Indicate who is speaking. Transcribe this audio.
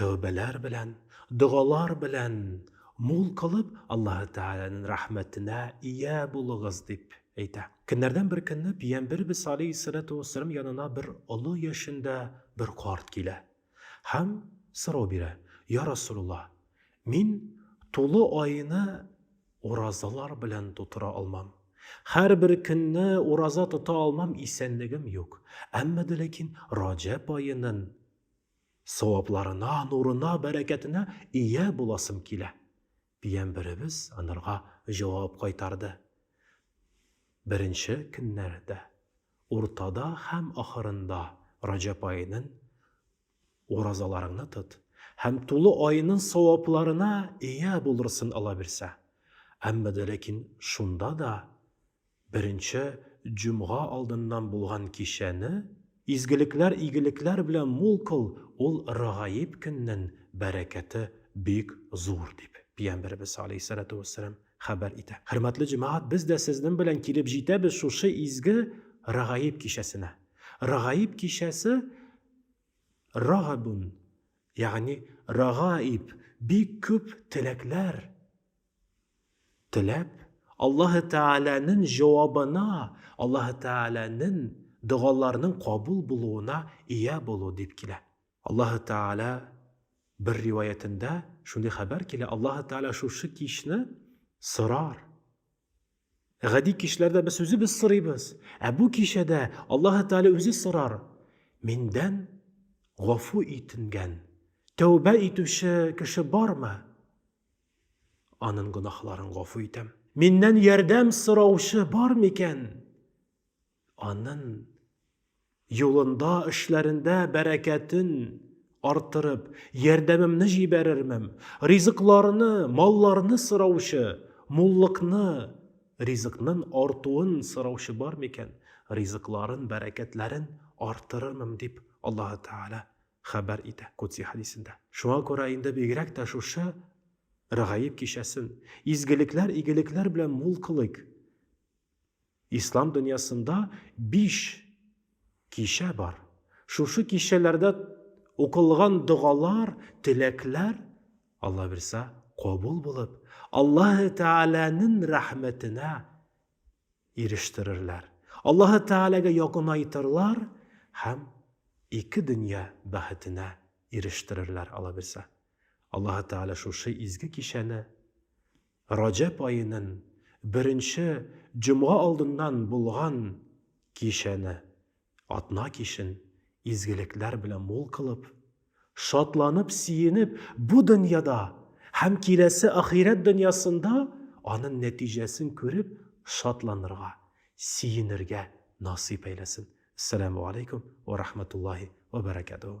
Speaker 1: Тәүбәләр белән, догалар белән мул кылып, Аллаһы Тәгаләнең рәхмәтенә ия булыгыз, дип әйтә. Көннәрдән бер көнне Пиямбербез алейһиссәләтү вәссәлам янына бер олы яшендә бер карт килә һәм сорау бирә, Йа Расулулла, мин тулы айны уразалар белән тутыра алмам. Һәрбер көнне ураза тота алмам, исәнлегем юк. Әмма дә ләкин Раҗәб аенын Савапларына, нурына, бәрәкәтенә ия буласым килә. Дигән беребез анарга җавап кайтарды. Беренче көннәрдә, уртада һәм ахырында Раҗәп аенын уразаларыңны тот һәм тулы аенын савапларына ия булырсын алабирсә. Әмма дә ләкин шунда да Беренче җомга алдыннан булган кичәне изгелекләр-игелекләр белән мул кыл, ул Рагаиб көннен бәрәкәте бик зур, дип, Пиямбәребез аләйһиссәләтү вәссәлам хәбәр итә. Хөрмәтле җәмәгать, без дә сезнен белән килеп җитәбез шушы изге Рагаиб кичәсенә. Рагаиб кичәсе Рагабун, ягъни Рагаиб, бик күп теләкләр, Теләп, Аллаһы Тәгаләнен җавабына, Аллаһы Тәгаләнен догаларның кабул булуына ия булу дип килә. Аллаһы Тәгалә бер риваятендә шундый хәбәр килә, Аллаһы Тәгалә шушы кичне сорар. Гади кичләрдә без үзебез сорыйбыз, ә бу кичәдә Аллаһы Тәгалә үзе сорар. Миндән гафу итенгән, тәүбә итүче кеше бармы? Аның гөнаһларын гафу итәм. Миннән ярдәм сораучы бар микән? Анын юлында, эшләрендә бәрәкәтен артырып, ярдәмемне җибәрермем. Ризыкларны, малларны сораучы, муллыкны, ризыкнын артуын сораучы бар микән? Ризыкларын, бәрәкәтләрен артырырмым, дип Аллаһы Тәгалә хәбәр итә Кудси хәдисендә. Шуңа күрә инде бигрәк тә шушы Рәгаиб кичәсен изгелекләр, игелекләр белән мул кылыйк. Ислам дөньясында биш кичә бар. Шушы кичәләрдә укылган догалар, теләкләр, Алла бирса, кабул булып, Аллаһы Тәгаләнең рәхмәтенә ирештерерләр, Аллаһы Тәгаләгә якынайтырлар һәм ике дөнья бәхетенә ирештерерләр, алабирса. Аллаһы Тәгалә шушы изге кичәне Раҗәб аенын беренче җомга алдыннан булган кичәне Атна кичен изгелекләр белән мул кылып, шатланып-сөенеп, бу дөньяда һәм киләсе ахирәт дөньясында аның нәтиҗәсен күреп шатланырга, сөенергә насыйп әйләсен. Әссәламү аләйкүм вә рахмәтуллаһи вә бәрәкәтүһү.